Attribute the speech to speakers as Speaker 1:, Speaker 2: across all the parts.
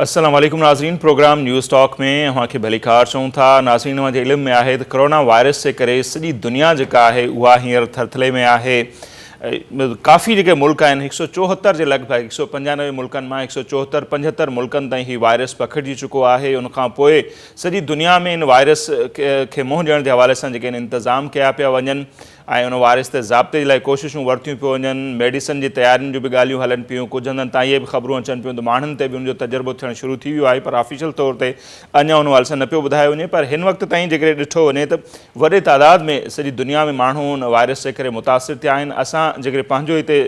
Speaker 1: السلام عليڪم ناظرين پروگرام نيوز ٽاڪ ۾ اوهان کي ڀليڪار چئون ٿا ناظرين اوهان جي علم ۾ آهي ته ڪورونا وائرس جي ڪري سڄي دنيا جيڪا آهي اها هينئر ٿرٿلي ۾ آهي ڪافي جيڪي ملڪ آهن هڪ سو چوهتر جي لڳ ڀڳ هڪ سو پنجانوي ملڪن مان هڪ سو چوهتر پنجهتر ملڪن تائين هي وائرس پکڙجي چڪو آهي ان کان پوء سڄي دنيا ۾ ان وائرس کي منهن ڏيڻ جي حوالي سان جيڪي انتظام ڪيا پيا وڃن ۽ ان وائرس تي ضابطي جي لاء ڪوششون ورتيون پيو وڃن، ميڊيسن جي تيارين جون به ڳالهيون هلن پيون، ڪجهه هنڌن تان اهي به خبرون اچن پيون ته ماڻهن تي به ان جو تجربو ٿيڻ شروع ٿي ويو آهي پر آفيشل طور تي اڃا ان حوالي سان نه پيو ٻڌايو وڃي پر هن وقت تائين جيڪڏهن ڏٺو وڃي ته وڏي تعداد ۾ سڄي دنيا ۾ ماڻهو ان وائرس جي ڪري متاثر ٿيا آهن، اسان جيڪڏهن پنهنجو هتي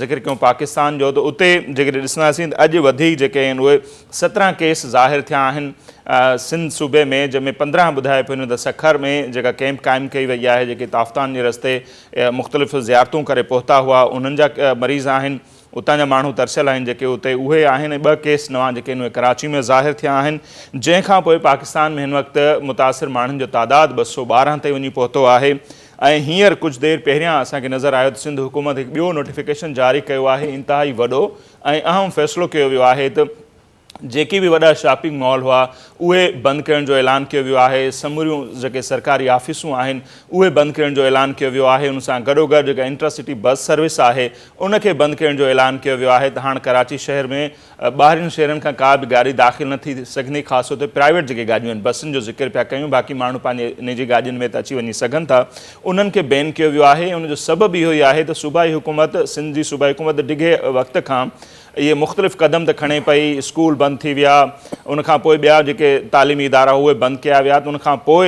Speaker 1: ذڪر ڪيون پاڪستان جو ته اتي جيڪڏهن ڏسنداسين ته اڄ وڌيڪ جيڪي آهن اهي سترهن ڪيس ظاهر ٿيا آهن سنڌ صوبي ۾ جنهن ۾ پندرهن ٻڌائي پيون وڃن ته سکر ۾ جيڪا ڪيمپ قائم ڪئي وئي آهي جيڪي تافتان جي رستي مختلف زيارتون ڪري پهتا هئا انهن جا مريض آهن اتان جا ماڻهو ترسيل آهن جيڪي اتي اهي آهن ۽ ٻه ڪيس نوان جيڪي آهن اهي ڪراچي ۾ ظاهر ٿيا آهن جنهن کان پوء پاڪستان ۾ هن وقت متاثر ماڻهن جو تعداد ٻه سؤ ٻارهن تائين وڃي پهتو آهي ۽ هينئر ڪجهه دير پهريان اسان کي نظر آيو ته سنڌ حڪومت هڪ ٻيو نوٽيفڪيشن جاري ڪيو آهي انتهائي وڏو ۽ اهم فيصلو ڪيو ويو آهي ته جيڪي به وڏا شاپنگ مال هئا اهي بند ڪرڻ جو اعلان ڪيو ويو آهي سموريون جيڪي سرڪاري آفيسون آهن اهي بند ڪرڻ جو اعلان ڪيو ويو آهي ان سان گڏوگڏ جيڪا انٽرا سٽي بس سروس آهي ان کي بند ڪرڻ جو اعلان ڪيو ويو آهي ته هاڻ ڪراچي شهر ۾ ٻاهرين شهرن کان ڪا به گاڏي داخل نه ٿي سگهندي خاص طور تي پرائيويٽ جيڪي گاڏيون آهن بسن جو ذڪر پيا ڪيون باقي ماڻهو پنهنجي نجي گاڏين ۾ ته اچي وڃي سگهن ٿا انهن کي بين ڪيو ويو آهي ان جو سبب اهو ئي آهي ته صوبائي حڪومت سنڌ جي صوبائي حڪومت ڊگهي وقت کان اهي مختلف قدم ته کڻي پئي اسڪول بند ٿي ويا ان کان پوء ٻيا جيڪي تعليمي ادارا اهي بند ڪيا ويا ته ان کان پوء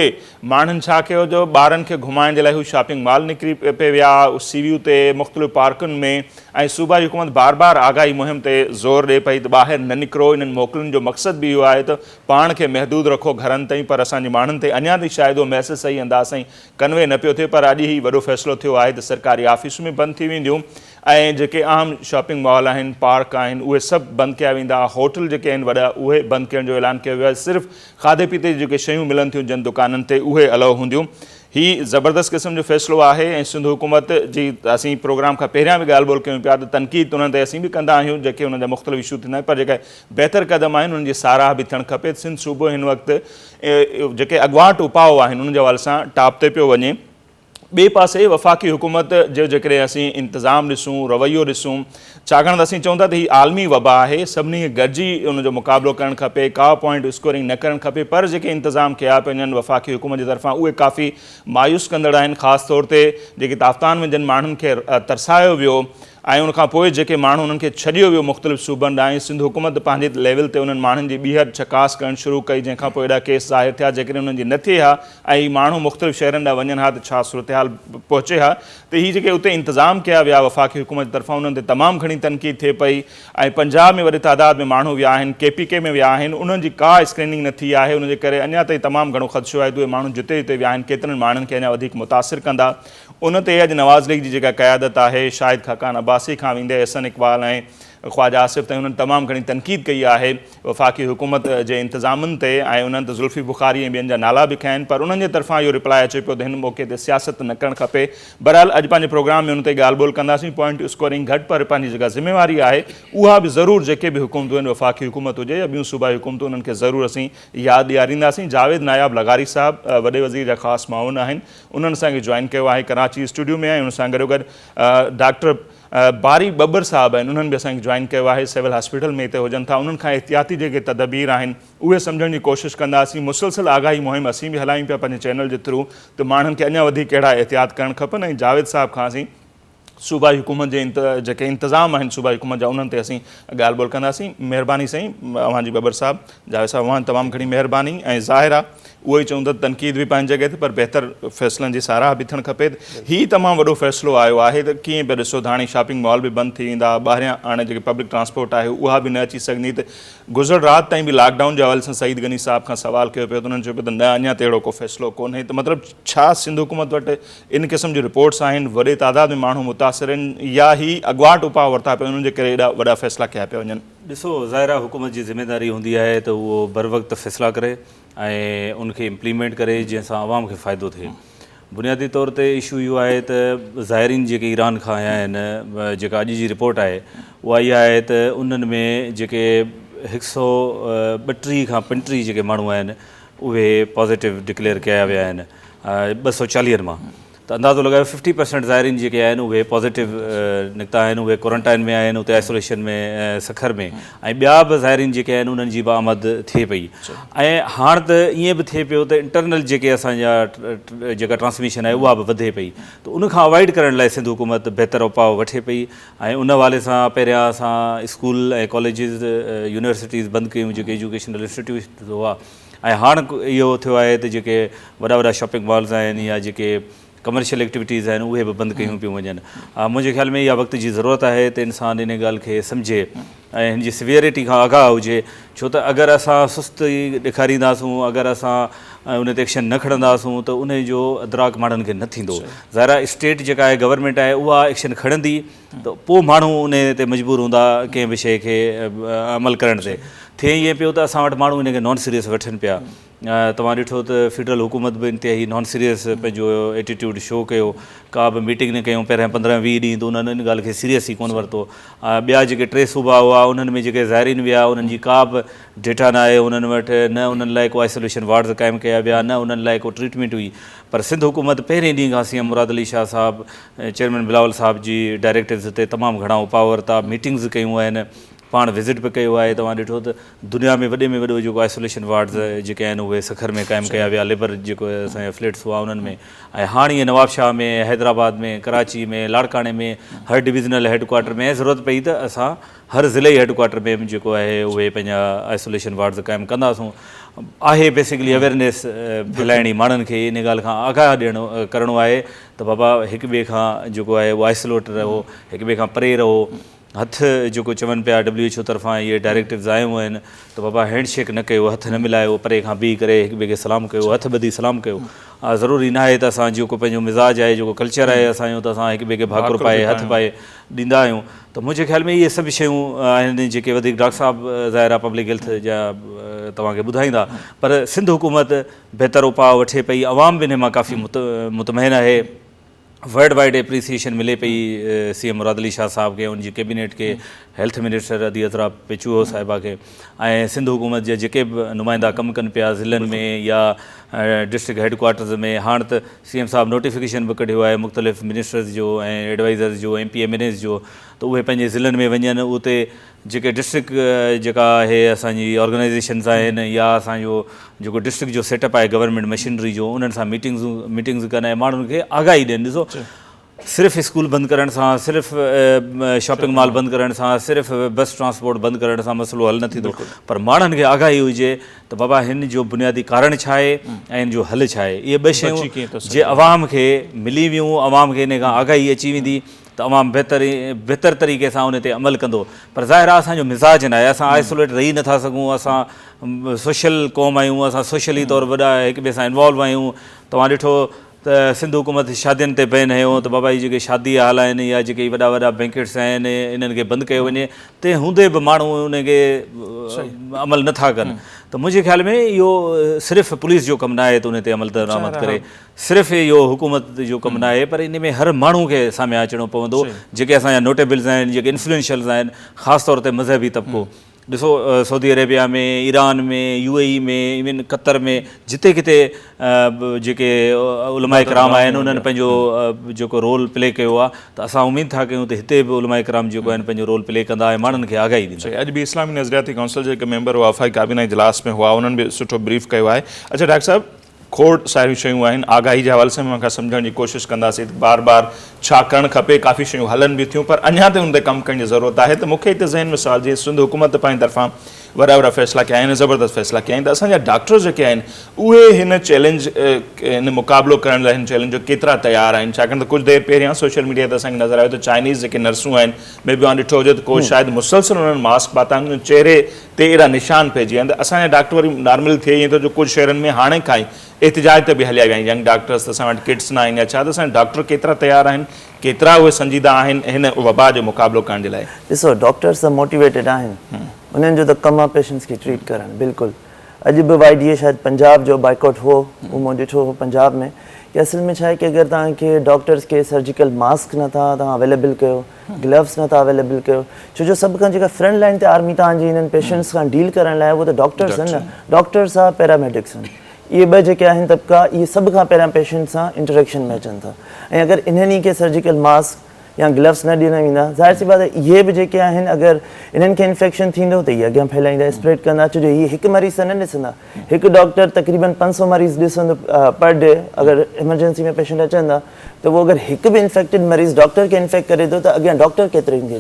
Speaker 1: ماڻهن ڇا ڪيو جو ٻارن کي گهمائڻ جي لاء هو شاپنگ مال نڪري پئي ويا سي ويو تي مختلف پارڪن ۾ ۽ صوبائي حڪومت بار بار آگاهي مهم تي زور ڏئي پئي ته ٻاهر نه نڪرو، انهن موڪلن جو مقصد به اهو آهي ته پاڻ کي محدود رکو گهرن تائين پر اسان جي ماڻهن تائين اڃا تائين شايد اهو ميسيج صحيح انداز سائين ڪنوي نه پيو ٿئي پر اڄ هي وڏو فيصلو ٿيو آهي ته سرڪاري آفيسون به بند ٿي وينديون ۽ جيڪي اهم شاپنگ مال آهن پارڪ آهن اهي سڀ بند ڪيا ويندا هوٽل جيڪي آهن وڏا اهي بند ڪرڻ جو اعلان ڪيو ويو آهي صرف کاڌي پيتي جي جيڪي شيون ملن ٿيون جن دڪانن تي اهي الائو هونديون هي زبردست قسم جو فيصلو آهي ۽ سنڌ حڪومت جي اسين پروگرام کان پهريان به ڳالهه ٻولهه ڪيون پيا ته تنقيد انهن تي اسين به ڪندا آهيون جيڪي انهن جا مختلف اشو ٿيندا آهن پر جيڪي بهتر قدم آهن انهن جي ساراهه به ٿيڻ کپي سنڌ صوبو هن وقت جيڪي اڳواٽ اپاء آهن انهن جي حوالي سان ٽاپ تي پيو وڃي ٻئي پاسي وفاقي حڪومت جو جيڪڏهن اسين انتظام ڏسون رويو ڏسون ڇاڪاڻ ته اسين چئون ٿا ته هي عالمي وبا آهي، سڀني کي گڏجي ان جو مقابلو ڪرڻ کپي، ڪا پوائنٽ اسڪورنگ نه ڪرڻ کپي پر جيڪي انتظام ڪيا پيا وڃن وفاقي حڪومت جي طرفان اهي ڪافي مايوس ڪندڙ آهن خاص طور تي جيڪي تافتان ۾ جن ماڻهن کي ترسايو ويو ۽ ان کان پوء جيڪي ماڻهو انهن کي ڇڏيو ويو مختلف صوبن ڏانهن سنڌ حڪومت پنهنجي ليول تي انهن ماڻهن جي ٻيهر چڪاس ڪرڻ شروع ڪئي جنهن کان پوء اهڙا ڪيس ظاهر ٿيا جيڪڏهن انهن جي نه ٿئي ها ۽ هي ماڻهو مختلف شهرن ڏانهن وڃن ها ته ڇا صورتحال پهچي ها ته هي جيڪي اتي انتظام ڪيا ويا وفاقي حڪومت جي طرفان انهن تي تمام گهڻي تنقيد ٿئي پئي ۽ پنجاب ۾ وڏي تعداد ۾ ماڻهو ويا آهن ڪي پي ڪي ۾ ويا آهن انهن جي ڪا اسڪريننگ نه ٿي آهي ان جي ڪري اڃا تائين تمام گهڻو خدشو آهي ته اهي ماڻهو جتي جتي ويا آهن ڪيترن ماڻهن کي اڃا وڌيڪ متاثر ڪندا ان تي اڄ نواز ليگ جي جيڪا قيادت آهي شاهد خاقان عباسي کان ويندي احسن اقبال ۽ خواجه آصف تائين انهن تمام گهڻي تنقيد ڪئي آهي. وفاقي حڪومت جي انتظامن تي آئي انهن ته ذوالفي بخاري ۽ ٻين جا نالا به کنيا آهن پر انهن جي طرفان اهو رپلاء اچي پيو ته هن موقعي تي سياست نه ڪرڻ کپي بهرحال اڄ پنهنجي پروگرام ۾ ان تي ڳالهه ٻولهه ڪنداسين پوائنٽ اسڪورنگ گهٽ پر پنهنجي جيڪا ذميواري آهي اها به ضرور جيڪي به حڪومتون آهن وفاقي حڪومت هجي يا ٻيون صوبائي حڪومتون انهن کي ضرور اسين ياد ڏيارينداسين جاويد ناياب لغاري صاحب وڏي وزير جا خاص معاون آهن انهن اسان کي جوائن ڪيو آهي ڪراچي اسٽوڊيو ۾ آهن ان سان گڏوگڏ ڊاڪٽر باري ٻٻر صاحب آهن انهن به اسان کي جوائن ڪيو آهي سول هاسپيٽل ۾ هتي هجن ٿا انهن کان احتياطي جيڪي تدبير آهن اهي سمجهڻ جي ڪوشش ڪنداسين مسلسل آگاهي مهم اسين به هلايون پيا پنهنجي چينل جي ٿرو ته ماڻهن کي اڃا وڌيڪ ڪهڙا احتياط ڪرڻ کپن ۽ جاويد صاحب کان اسين صوبائي حڪومت جي جيڪي انتظام آهن صوبائي حڪومت جا انهن تي اسين ڳالهه ٻولهه ڪنداسين مهرباني سائين اوهان جي ٻٻر صاحب جاويد صاحب اوهان تمام گهڻي مهرباني ۽ ظاهر آهي اهو ئي چون ته تنقيد به پنهنجي جڳهه تي پر بهتر فيصلن جي ساراهه به ٿيڻ کپي. هي تمام وڏو فيصلو آيو آهي ته ڪيئن به ڏسو ته هاڻي شاپنگ مال به بند ٿي ويندا، ٻاهريان هاڻي جيڪي پبلڪ ٽرانسپورٽ آهي اها به نه اچي سگهندي ته گذريل رات تائين به لاڪ ڊائون جي حوالي سان سعيد غني صاحب کان سوال ڪيو پيو ته انهن چيو پيو ته نه اڃا تائين اهڙو ڪو فيصلو ڪونهي ته مطلب ڇا سنڌ حڪومت وٽ ان قسم جون رپورٽس آهن وڏي تعداد ۾ ماڻهو متاثر آهن يا هي اڳواٽ اپاء ورتا پيا وڃن انهن جي ڪري ايڏا وڏا فيصلا ڪيا پيا وڃن. ڏسو ظاهر آهي
Speaker 2: حڪومت جي ذميداري هوندي آهي ته اهو بروقت فيصلا ڪري ۽ ان کي امپليمينٽ ڪري جنهن سان عوام کي فائدو ٿئي بنيادي طور تي اشو اهو آهي ته زائرين جيڪي ايران کان آيا آهن جيڪا اڄ جي رپورٽ آهي اها اها آهي ته انهن ۾ جيڪي هڪ سو ٻٽيهه کان پنٽيهه جيڪي ماڻهو آهن اهي پازيٽو ڊڪليئر ڪيا ويا آهن ٻه سو چاليهن مان ته اندازو لڳايو ففٽي پرسينٽ زائرين جيڪي آهن اهي پازيٽو نڪتا آهن اهي ڪورنٽائن ۾ آهن اتي آئسوليشن ۾ سکر ۾ ۽ ٻيا به زائرين جيڪي آهن انهن جي به آمد ٿئي پئي ۽ هاڻ ته ائين به ٿئي پيو ته انٽرنل جيڪي اسان جا جيڪا ٽرانسميشن آهي اها به وڌي پئي ته ان کان اوائڊ ڪرڻ لاء سنڌ حڪومت بهتر اپاء وٺي پئي ۽ ان حوالي سان پهريان اسان اسڪول ۽ ڪاليجز يونيورسٽيز بند ڪيون جيڪي ايجوڪيشنل انسٽيٽيوشنز هئا ۽ هاڻ اهو ٿيو آهي ته جيڪي وڏا وڏا شاپنگ مالز آهن يا جيڪي ڪمرشل ايڪٽيوٽيز آهن اهي به بند ڪيون پيون وڃن منهنجي خيال ۾ اها وقت جي ضرورت آهي ته انسان ان ڳالهه کي سمجهي ۽ هن جي سويئرٽي کان آگاهه هجي ڇو ته اگر اسان سستي ڏيکارينداسون اگر اسان ان تي ايڪشن نه کڻنداسون ته ان جو ادراڪ ماڻهن کي نه ٿيندو ظاهر آهي اسٽيٽ جيڪا آهي گورنمينٽ آهي اها ايڪشن کڻندي ته پوء ماڻهو انهي تي مجبور هوندا ڪنهن به شيء کي عمل ڪرڻ تي. ٿئي ائين پيو ته اسان وٽ ماڻهو ان کي نان سيريس وٺن پيا. توهان ڏٺو ته فيڊرل حڪومت به انتهائي نان سيريس پنهنجو ايٽيٽيوڊ شو ڪيو. ڪا به ميٽنگ نه ڪيون پهريان پندرهن ويهه ڏينهن ته انهن ان ڳالهه کي سيريس ئي ڪونه ورتو. ٻيا جيڪي ٽي صوبا هئا انهن ۾ جيڪي زائرين ويا انهن جي ڪا به ڊيٽا نه آئي انهن وٽ. نه انهن لاء ڪو آئسوليشن وارڊز قائم ڪيا ويا نه انهن لاء ڪو ٽريٽمينٽ هئي. پر سنڌ حڪومت پهرين ڏينهن کان C M Murad Ali Shah Sahib chairman Bilawal صاحب جي ڊائريڪٽرز تي تمام گهڻا اپاء ورتا، ميٽنگز ڪيون آهن، پاڻ وزٽ به ڪيو آهي، توهان ڏٺو ته دنيا ۾ وڏي ۾ وڏو جيڪو آئسوليشن وارڊز جيڪي آهن اهي سکر ۾ قائم ڪيا ويا، ليبر جيڪو اسان جا فليٽس هئا انهن ۾ ۽ هاڻ ائين نوابشاهه ۾ حيدرآباد ۾ ڪراچي ۾ لاڙڪاڻي ۾ هر ڊويزنل هيڊڪوارٽر ۾ ۽ ضرورت پئي ته اسان هر ضلعي هيڊڪوارٽر ۾ به جيڪو آهي اهي پنهنجا آئسوليشن وارڊز قائم ڪنداسون آهي بيسڪلي اويرنيس ڦهلائڻي ماڻهن کي انهي ڳالهه کان آگاهه ڏيڻو ڪرڻو آهي ته بابا هڪ ٻئي کان جيڪو آهي اهو آئسوليٽ رهو، هڪ ٻئي کان پري رهو، هٿ جيڪو چون پيا ڊبليو ايڇ او طرفان اهي ڊائريڪٽوز آيون آهن ته بابا هينڊ شيڪ نه ڪيو، هٿ نه ملايو، پري کان بيهي ڪري هڪ ٻئي کي سلام ڪيو، هٿ ٻڌي سلام ڪيو، ضروري نه آهي ته اسان جيڪو پنهنجو مزاج آهي، جيڪو ڪلچر آهي اسان جو ته اسان هڪ ٻئي کي ڀاڪر پائي هٿ پائي ڏيندا آهيون ته منهنجي خيال ۾ اهي سڀ شيون آهن جيڪي وڌيڪ ڊاڪٽر صاحب ظاهر آهي پبلڪ هيلٿ جا توهان کي ٻڌائيندا پر سنڌ حڪومت بهتر اپاء وٺي پئي، عوام به انهي مان ڪافي مطمئن آهي، ورلڊ وائيڊ اپريسيئيشن ملي پئي سي ايم مراد علي شاهه صاحب کي ۽ ان جي ڪيبينيٽ کي، هيلٿ منسٽر ادي اطهرا پي چوهو صاحبه کي ۽ سنڌ حڪومت جا جيڪي به نمائندا ڪم ڪن پيا ضلعن ۾ يا ڊسٽرڪٽ هيڊ ڪوارٽرز ۾ هاڻ ته سي ايم صاحب نوٽيفڪيشن به ڪڍيو آهي مختلف منسٽرز جو ۽ ايڊوائيزرز جو M P M N As جو ته اهي پنهنجي ضلعن ۾ وڃن اتي جيڪي ڊسٽرڪٽ جيڪا آهي اسان جي آرگنائيزيشنز آهن يا اسان جو جيڪو ڊسٽرڪٽ جو سيٽ اپ آهي گورنمينٽ مشينري جو انهن سان ميٽنگز ميٽنگز ڪن ۽ ماڻهن کي آگاهي ڏين ڏسو صرف اسڪول بند ڪرڻ سان صرف شاپنگ مال بند ڪرڻ سان صرف بس ٽرانسپورٽ بند ڪرڻ سان مسئلو حل نه ٿيندو پر ماڻهن کي آگاهي هجي ته بابا هن جو بنيادي ڪارڻ ڇا آهي ۽ هن جو حل ڇا آهي اهي ٻه شيون جي عوام کي ملي ويون عوام کي ان کان آگاهي اچي ويندي ته عوام بهتر طريقي سان ان تي عمل ڪندو پر ظاهر آهي اسان جو مزاج ناهي اسان آئسوليٽ رهي نٿا سگهون اسان سوشل قوم آهيون اسان سوشلي طور وڏا هڪ ٻئي سان انوالو آهيون توهان ڏٺو ته سنڌ حڪومت شادين تي بين هنيو ته بابا هي جيڪي شادي هال آهن يا جيڪي هي وڏا وڏا بينڪيٽس آهن انهن کي بند ڪيو وڃي تنهن هوندي به ماڻهو ان کي عمل نٿا ڪن ته منهنجي خيال ۾ اهو صرف پوليس جو ڪم ناهي ته ان تي عمل درآمد ڪري صرف اهو حڪومت جو ڪم ناهي پر ان ۾ هر ماڻهو کي ساميان اچڻو پوندو جيڪي اسان جا نوٽيبلز آهن جيڪي انفلوئنشلز آهن خاص طور تي مذهبي طبقو ڏسو Saudi Arabia ۾ Iran ۾ U A E ۾ ايون قطر ۾ جتي ڪٿي به جيڪي علماء ڪرام آهن انهن پنهنجو جيڪو رول پلي ڪيو آهي ته اسان اميد ٿا ڪيون ته هتي به علماء ڪرام جيڪو آهن پنهنجو رول پلي ڪندا ۽ ماڻهن کي آگاهي ڏيندا اڄ به اسلامي نظرياتي
Speaker 1: ڪائونسل جا جيڪي ميمبر وفاقي ڪابينا اجلاس ۾ هئا انهن به سٺو بريف ڪيو آهي اڇا ڊاڪٽر صاحب کوڙ ساريون شيون آهن آگاهي جي حوالي سان به اوهان کي سمجهڻ جي ڪوشش ڪنداسين ته بار بار ڇا ڪرڻ کپي ڪافي شيون هلن به ٿيون پر اڃان تائين ان تي ڪم ڪرڻ جي ضرورت آهي ته مون کي هتي ذهن ۾ سوال جيئن سنڌ حڪومت ته پنهنجي طرفان وڏا وڏا فيصلا ڪيا آهن زبردست فيصلا ڪيا آهن ته اسان جا ڊاڪٽر جيڪي آهن اهي هن چئلينج هن مقابلو ڪرڻ لاء هن چئلينج جو ڪيترا تيار آهن ڇاڪاڻ ته ڪجهه دير پهريان سوشل ميڊيا تي اسان کي نظر آيو ته چائنيز جيڪي نرسون آهن مي بي اوهان ڏٺو هجي ته ڪو شايد مسلسل انهن ماسڪ پاتا آهن چهري تي اهڙا نشان پئجي ويا آهن ته اسان جا ڊاڪٽر وري نارمل ٿئي ائين ٿو جو ڪجهه شهرن ۾ هاڻي کان ئي احتجاج ته به هليا ويا آهن ينگ ڊاڪٽرز ته اسان وٽ ڪٽس ناهن يا ڇا ته اسان جا ڊاڪٽر ڪيترا تيار آهن ڪيترا اهي سنجيده آهن هن وبا جو مقابلو ڪرڻ جي لاء. ڏسو ڊاڪٽرز ته
Speaker 3: موٽيويٽيڊ آهن انهن جو ته ڪم آهي پيشنٽس کي ٽريٽ ڪرڻ بلڪل اڄ به واء ڊي اي شايد پنجاب جو بائيڪاٽ هو اهو مون ڏٺو هو پنجاب ۾ ڪي اصل ۾ ڇا آهي ڪي اگر توهان کي ڊاڪٽرز کي سرجيڪل ماسڪ نٿا توهان اويليبل ڪيو گلوز نه ٿا اويليبل ڪيو ڇو جو سڀ کان جيڪا فرنٽ لائين تي آرمي توهان جي هنن پيشنٽس کان ڊيل ڪرڻ لاء اهي ته ڊاڪٽرس آهن نه ڊاڪٽر سا پيراميڊڪس آهن اهي ٻه جيڪي آهن طبقا اهي سڀ کان پهريان پيشنٽس سان انٽريڪشن ۾ اچن ٿا ۽ اگر انهن ئي کي سرجيڪل ماسڪ يا گلوز نه ڏنا ويندا ظاهر سي بات آهي اهي به جيڪي آهن اگر انهن کي انفيڪشن ٿيندو ته اهي اڳيان ڦهلائيندا اسپريڊ ڪندا ڇو جو اهي هڪ مريض ته نه ڏسندا هڪ ڊاڪٽر تقريبن پنج سؤ مريض ڏسندو پر ڊي اگر ايمرجنسي ۾ پيشنٽ اچن ٿا ته اهو اگر هڪ به انفيڪٽيڊ مريض ڊاڪٽر کي انفيڪٽ ڪري ٿو ته اڳيان ڊاڪٽر ڪيترن کي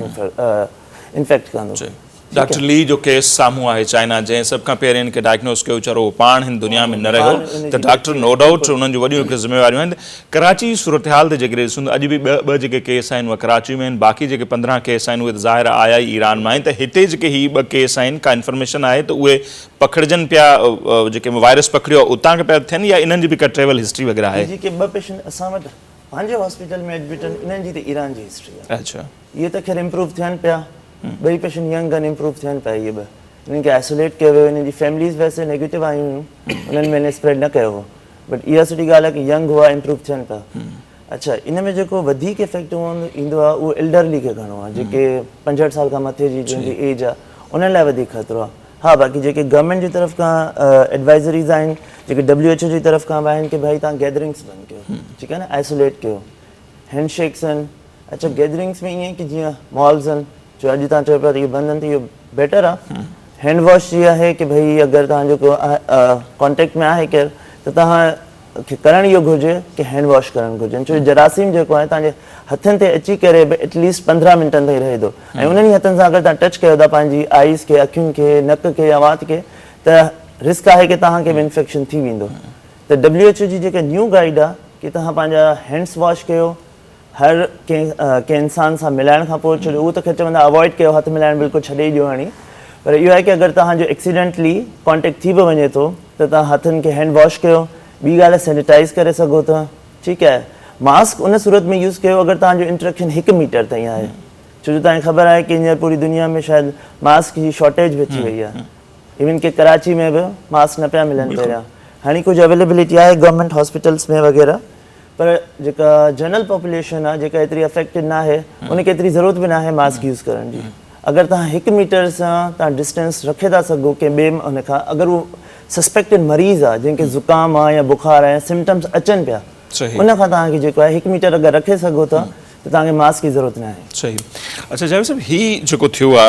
Speaker 3: انفيڪٽ ڪندو. جي ڊاڪٽر لي جو
Speaker 1: ڪيس سامهون آهي چائنا جنهن سڀ کان پهرين ان کي ڊائگنوز ڪيو ويچارو اهو پاڻ هن دنيا ۾ نه رهيو ته ڊاڪٽر نو ڊائوٽ انهن جون وڏيون هڪڙي ذميواريون آهن ڪراچي جي صورتحال تي جيڪڏهن ڏسون ته اڄ به ٻه ٻه جيڪي ڪيس آهن اهي ڪراچي ۾ آهن باقي جيڪي پندرهن ڪيس آهن اهي ته ظاهر آهي آيا ئي ايران مان آهن ته هتي جيڪي هي ٻه ڪيس آهن ڪا انفارميشن آهي ته اهي پکڙجن پيا جيڪي وائرس پکڙيو آهي اتان کان پيا ٿين يا انهن جي به ڪا ٽريول هسٽري وغيره آهي؟ جيڪي ٻه پيشنٽ اسان
Speaker 3: وٽ پنهنجي هاسپيٽل ۾ ايڊمٽ آهن انهن جي ته ايران جي هسٽري آهي اهي ته خير
Speaker 1: امپروو
Speaker 3: ٿين پيا ٻئي پيشنٽ ينگ آهن امپروو ٿين پيا اهي ٻه انهن کي آئسوليٽ ڪيو ويو انهن جي فيمليز ويسي نيگيٽو آيون هيون انهن ۾ انهن اسپريڊ نه ڪيو هو بٽ اها سٺي ڳالهه آهي ڪي ينگ هئا امپروو ٿين پيا اڇا ان ۾ جيڪو وڌيڪ افيڪٽ ايندو آهي اهو ايلڊرلي کي گهڻو آهي جيڪي پنجهٺ سال کان مٿي جي جن جي ايج آهي انهن لاء وڌيڪ خطرو آهي ها باقي جيڪي گورنمينٽ جي طرف کان ايڊوائزريز آهن جيڪي ڊبليو ايڇ او جي طرف کان به آهن ڪي ڀائي تهان گيدرنگس بند ڪيو ٺيڪ آهي نه آئسوليٽ ڪيو هينڊ شيڪس آهن اڇا گيدرنگس ۾ ائين ڪي جيئن مالز آهن جو اڄ تهان چئو پيا ته اهي بند آهن ته اهو بيٽر آهي هينڊ واش جي آهي ڪي ڀائي اگر تهان جو ڪانٽيڪٽ ۾ آهي ڪير ته تهان کي ڪرڻ اهو گهرجي ته هينڊ واش ڪرڻ گهرجن ڇو جو جراثيم جيڪو آهي تنهنجي هٿن تي اچي ڪري به ايٽ ليسٽ پندرهن منٽن تائين رهي ٿو ۽ انهن ئي هٿن سان اگر تنهن ٽچ ڪيو ٿا پنهنجي آئيز کي اکين کي نڪ کي يا وات کي ته رسڪ آهي ڪي توهان کي به انفيڪشن ٿي ويندو ته ڊبليو ايڇ او جي جيڪا نيو گائيڊ آهي ڪي توهان پنهنجا هينڊس واش ڪيو هر ڪنهن انسان سان ملائڻ کان پوء ڇڏيو هو ته کي چوندا اوائڊ ڪيو هٿ ملائڻ بلڪل ڇڏي ئي ڏيو هاڻي پر اهو آهي ڪي اگر توهان جو ايڪسيڊنٽلي ڪانٽيڪٽ ٿي به وڃي ٿو ته توهان هٿن کي هينڊ واش ڪيو ٻي ڳالهه سينيٽائز ڪري سگهو ٿا ٺيڪ آهي ماسڪ ان صورت ۾ يوز ڪيو اگر توهان جو انٽريڪشن هڪ ميٽر تائين آهي ڇو جو توهان کي خبر آهي ڪي هينئر پوري دنيا ۾ شايد ماسڪ جي شارٽيج به اچي وئي آهي ايون ڪي ڪراچي ۾ به ماسڪ نه پيا ملن پهريان هاڻي ڪجهه اويليبلٽي آهي گورنمينٽ هاسپيٽلس ۾ وغيره پر جيڪا جنرل پاپوليشن آهي جيڪا ايتري افيڪٽيڊ ناهي ان کي ايتري ضرورت به ناهي ماسڪ يوز ڪرڻ جي اگر توهان هڪ ميٽر سان توهان ڊسٽينس رکي ٿا سگهو ڪنهن ٻئي ان کان اگر هو سسپيڪٽيڊ مريض آهي جنهن کي زڪام آهي يا بخار آهي سمٽمس اچن پيا ان کان توهان کي جيڪو آهي هڪ ميٽر اگر رکي سگهو ٿا ته توهان کي ماسڪ جي ضرورت نه آهي. صحيح اڇا جاويد
Speaker 1: صاحب هي جيڪو ٿيو آ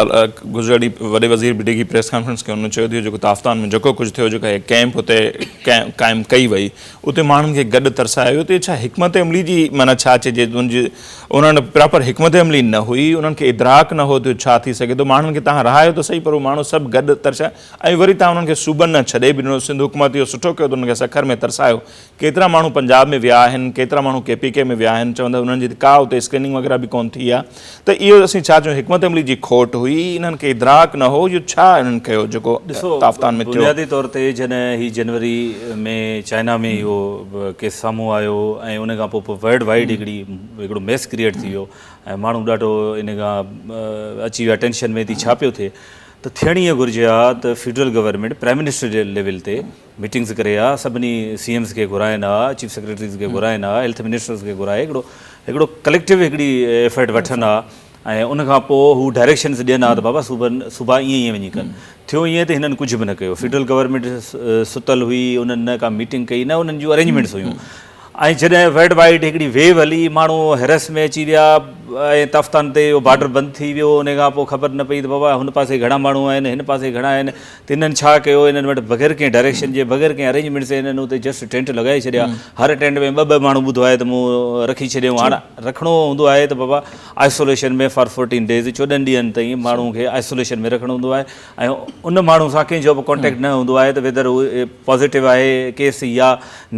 Speaker 1: گذريل ڏينهن وڏي وزير بي ڊي کي پريس ڪانفرنس ڪئي ان چيو ته اهو جيڪو تافتان ۾ جيڪو ڪجهه ٿيو جيڪا هي ڪئمپ هتي قائم ڪئي وئي اتي ماڻهن کي گڏ ترسايو ويو ته ڇا حڪمت عملي جي معنيٰ ڇا چئجي ان جي ان وٽ پراپر حڪمت عملي نه هئي انهن کي ادراڪ نه هو ته اهو ڇا ٿي سگهي ٿو ماڻهن کي تهان رهايو ته سهي پر اهي ماڻهو سڀ گڏ ترسيا ۽ وري تهان انهن کي صوبن ڏانهن ڇڏي به ڏنو سنڌ حڪومت اهو سٺو ڪيو ته انهن کي سکر ۾ ترسايو ڪيترا ماڻهو پنجاب ۾ ويا آهن ڪيترا ماڻهو ڪي پي ڪي ۾ ويا آهن چون ٿا انهن جي ڪا اتي اسڪريننگ وغيره به ڪون ٿي آهي ته اهو اسين ڇا چون حڪمت عملي جي کوٽ هئي انهن کي ادراڪ نه هو اهو ڇا انهن ڪيو جيڪو تافتان ۾ ٿيو. بنيادي طور تي جڏهن
Speaker 2: هي جنوري ۾ چائنا ۾ اهو ڪيس سامهون آيو ۽ ان کان پوء ورلڊ وائيڊ هڪڙي هڪڙو ميس ڪريئيٽ ٿي ويو ۽ ماڻهو ڏاڍو ان کان اچي ويا ٽينشن ۾ ٿي ڇا پيو ٿئي ته ٿيڻ اهي گهرجي ها ته فيڊرل گورنمينٽ پرائيم منسٽر جي ليول تي ميٽنگز ڪري ها سڀني سي ايمز کي گهرائين ها چيف سيڪريٽريز کي گهرائين ها هيلٿ منسٽرز کي گهرائي هڪڙو هڪڙو ڪليڪٽو هڪڙي ايفرٽ وٺن ها ۽ ان کان پوء هو ڊائريڪشنز ڏين ها ته بابا صوبا صوبا ائين ائين وڃي ڪن ٿيو ائين ته هنن ڪجهه به نه ڪيو فيڊرل گورنمينٽ ستل هئي انهن نه ڪا ميٽنگ ڪئي نه انهن جون ارينجمينٽس هيون ۽ جڏهن ورلڊ وائيڊ هڪڙي ويو هلي، ماڻهو حيرس ۾ اچي ويا ۽ تافتان تي اهو بارڊر بند ٿي ويو، انهي کان پوء خبر نه پئي ته بابا هن پاسي گهڻا ماڻهو آهن، هن پاسي گهڻا آهن ته هنن ڇا ڪيو، هنن وٽ بغير ڪنهن ڊائريڪشن جي، بغير ڪنهن ارينجمينٽس جي هنن اتي جسٽ ٽينٽ لڳائي ڇڏيا، هر ٽينٽ ۾ ٻه ٻه ماڻهو ٻڌو آهي ته مون رکي ڇڏيائون، هاڻ رکڻو هوندو آهي ته بابا آئسوليشن ۾ فار فورٽين ڊيز چوڏهن ڏينهن تائين ماڻهو کي آئسوليشن ۾ رکڻو هوندو آهي، ۽ ان ماڻهو سان ڪنهن جو به ڪانٽيڪٽ نه هوندو آهي ته ويدر هو پازيٽو آهي ڪيس يا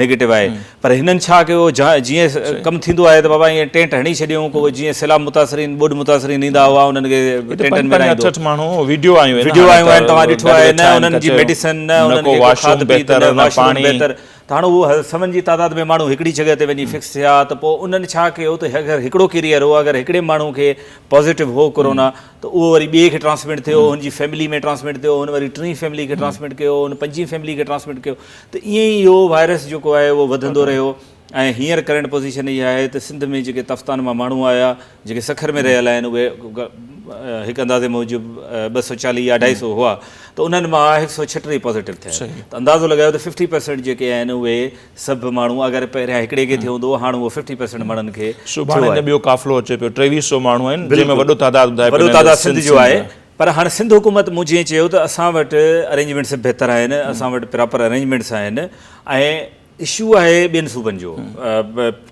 Speaker 2: نيگيٽو آهي پر هنن ڇا ڪيو جيئن ڪم ٿيندو آهي ته بابا ائين ٽينٽ هڻي ڇڏيون ڪو جيئن سيلاب متاثرين ٻوڏ متاثرين ايندا هئا انهن کي ٽينٽن ۾ رهائيندو
Speaker 1: وڊيو آيون آهن توهان ڏٺو
Speaker 2: آهي نه انهن جي ميڊيسن نه انهن کي ڪو کاڌ پيت نه واش روم بهتر ته هاڻ اهو سون جي تعداد ۾ ماڻهو هڪڙي جڳهه تي وڃي فڪس ٿيا ته پوء انهن ڇا ڪيو ته اگر هڪڙو ڪيريئر هو اگر هڪڙي ماڻهو کي پازيٽو هو ڪورونا ته اهو وري ٻئي کي ٽرانسمٽ ٿيو، هن جي فيملي ۾ ٽرانسمٽ ٿيو، هن وري ٽين فيملي کي ٽرانسمٽ ڪيو، هن پنجين فيملي کي ٽرانسمٽ ڪيو ته ائين ئي اهو وائرس جيڪو آهي اهو وڌندو رهيو ۽ هينئر ڪرنٽ پوزيشن اها آهي ته سنڌ ۾ جيڪي تفتان مان ماڻهو آيا جيڪي سکر ۾ رهيل آهن اهي هڪ اندازي موجب ٻه سؤ چاليهه يا اڍائي سؤ هئا ته انهن مان هڪ سؤ ڇهٽيهه پازيٽو ٿيا آهن ته اندازو لڳايو ته ففٽي پرسنٽ جيڪي آهن اهي سڀ ماڻهو اگر پهريان هڪڙي کي ٿيو هوندو هو هاڻ اهو ففٽي پرسنٽ ماڻهن کي سڀاڻي اڃا ٻيو قافلو
Speaker 1: اچي پيو ٽيويهه سئو ماڻهو آهن جن ۾ وڏو تعداد ٻڌائي وڏو تعداد سنڌ
Speaker 2: جو آهي پر هاڻ سنڌ حڪومت مون جيئن چيو ته اسان وٽ ارينجمينٽس بهتر آهن اسان وٽ پراپر ارينجمينٽس آهن ۽ اشو آهي ٻين صوبن جو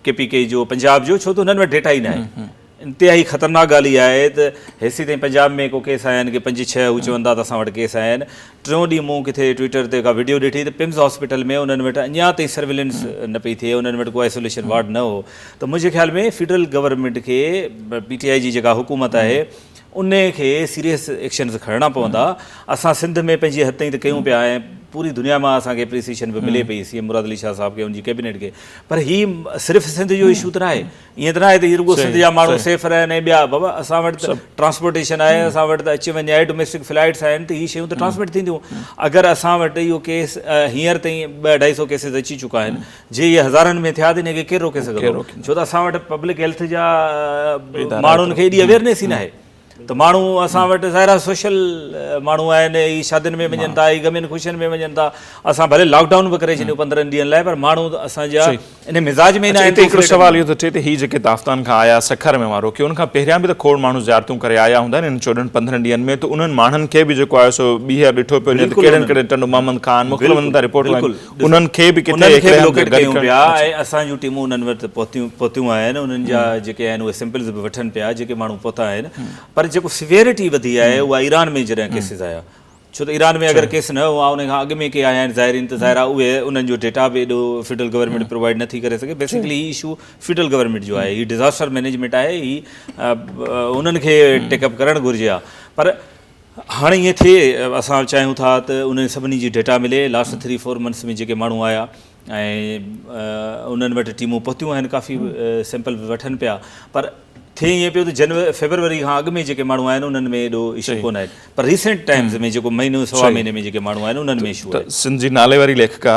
Speaker 2: ڪي پي ڪي جو پنجاب جو ڇو ته هنن وٽ ڊيٽا ئي ناهي انتهائي خطرناڪ ڳالهه اها آهي ته هيسي تائين پنجاب ۾ ڪو ڪيس آيا آهن ڪي پنج ڇهه هو چون ٿا ته اسان وٽ ڪيس آيا آهن ٽيون ڏينهن مون ڪٿي ٽوئيٽر تي ڪا وڊيو ڏٺي ته پمز هاسپيٽل ۾ انهن وٽ اڃا تائين سرويلنس نه پئي ٿئي انهن وٽ ڪو آئسوليشن وارڊ نه هو ته منهنجي خيال ۾ فيڊرل گورنمينٽ کي پي ٽي آئي جي جيڪا حڪومت آهي ان کي سيريس ايڪشنز کڻڻا پوندا اسان سنڌ ۾ پنهنجي حد تائين ته ڪيون پيا ۽ پوري دنيا مان اسان کي اپريسيشن به ملي پئي سي ايم مراد علي شاهه صاحب کي ان جي ڪيبنيٽ کي پر هي صرف سنڌ جو اشو ته ناهي ائين ته ناهي ته هي رڳو سنڌ جا ماڻهو سيف رهن ۽ ٻيا بابا اسان وٽ ته ٽرانسپورٽيشن آهي اسان وٽ ته اچ وڃ آهي ڊوميسٽڪ فلائيٽس آهن ته هي شيون ته ٽرانسمٽ ٿينديون اگر اسان وٽ اهو ڪيس هينئر تائين ٻه اڍائي سو ڪيسز اچي چڪا آهن جي اهي هزارن ۾ ٿيا ته ان کي ڪير روڪي سگهندو ڇو ته اسان وٽ پبلڪ هيلٿ جا ماڻهن کي ايڏي اويئرنيس ئي ناهي ته ماڻهو اسان وٽ ظاهر آهي سوشل ماڻهو آهن هي شادين ۾ وڃن ٿا هي غمين خوشين ۾ وڃن ٿا اسان ڀلي لاڪ ڊائون به ڪري ڇڏيو پندرهن ڏينهن لاء پر ماڻهو اسان جا ان مزاج ۾ نه آهن هڪڙو سوال اهو ٿو اچي ته
Speaker 1: هي جيڪي داستان کان آيا سکر ۾ اوهان روڪيو ان کان پهريان به ته کوڙ ماڻهو زيارتون ڪري آيا هوندا انهن چوڏهن پندرهن ڏينهن ۾ ته انهن ماڻهن کي به جيڪو آهي سو ٻيهر ڏٺو پيو وڃي ته ڪهڙن ڪهڙن ٽنڊو محمد خان مختلف هنڌن تان رپورٽون آيون انهن کي به ڪٿي هڪڙي هنڌ گڏ ڪيون پيا ۽ اسان جون
Speaker 2: ٽيمون انهن وٽ پهتيون آهن انهن جا جيڪي آهن اهي سيمپلز به وٺن پيا جيڪي ماڻهو پهتا آهن پر جيڪو سيويرٽي وڌي آهي اها ايران ۾ جڏهن ڪيسز آيا ڇو ته ايران ۾ اگر ڪيس نه هئا انهن کان اڳ ۾ ڪي آيا آهن زائرين ته ظاهر آهي اهي انهن جو ڊيٽا به ايڏو فيڊرل گورنمينٽ پرووائيڊ نه ٿي ڪري سگهي بيسڪلي هي اشو فيڊرل گورنمينٽ جو آهي هي ڊزاسٽر مينيجمينٽ آهي هي انهن کي ٽيڪ اپ ڪرڻ گهرجي ها پر هاڻي ائين ٿئي اسان چاهيون ٿا ته انهن سڀني جي ڊيٽا ملي لاسٽ ٿري فور منٿس ۾ جيڪي ماڻهو آيا ۽ انهن وٽ ٽيمون پهتيون آهن ڪافي سيمپل به وٺن پيا پر ٿئي ائين پيو ته جنوري فيبروري کان اڳ ۾ جيڪي ماڻهو آيا آهن انهن ۾ ايڏو اشو ڪونه آهن پر ريسنٽ ٽائمز ۾ جيڪو مهينو سوا مهيني ۾ جيڪي ماڻهو آيا آهن انهن ۾ اشو آهي سنڌ جي نالي واري
Speaker 1: ليکڪا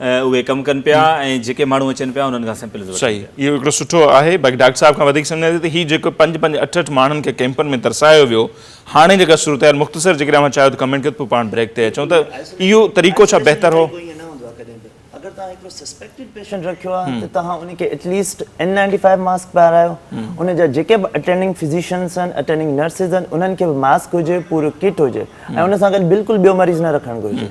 Speaker 2: اهي ڪم ڪن پيا ۽ جيڪي ماڻهو اچن پيا انهن کان سيمپلز وٺن پيا. صحيح اهو هڪڙو سٺو
Speaker 1: آهي باقي ڊاڪٽر صاحب کان وڌيڪ سمجهان ٿي ته هي جيڪو پنج پنج اٺ اٺ ماڻهن کي ڪيمپن ۾ ترسايو ويو هاڻي جيڪا صورتحال مختصر جيڪڏهن اوهان چاهيو ته ڪمينٽ ڪيو ته پوء پاڻ بريڪ تي اچون ته اهو طريقو ڇا بهتر هو؟ اگر
Speaker 3: توهان هڪڙو سسپيڪٽيڊ پيشنٽ رکيو آهي ته توهان ان کي at least N ninety five mask پارايو ان جا جيڪي به اٽينڊنگ فزيشنس آهن اٽينڊنگ نرسز آهن انهن کي به ماسڪ هجي پورو ڪٽ هجي ۽ ان سان گڏ بلڪل ٻيو مريض نه رکڻ گهرجي.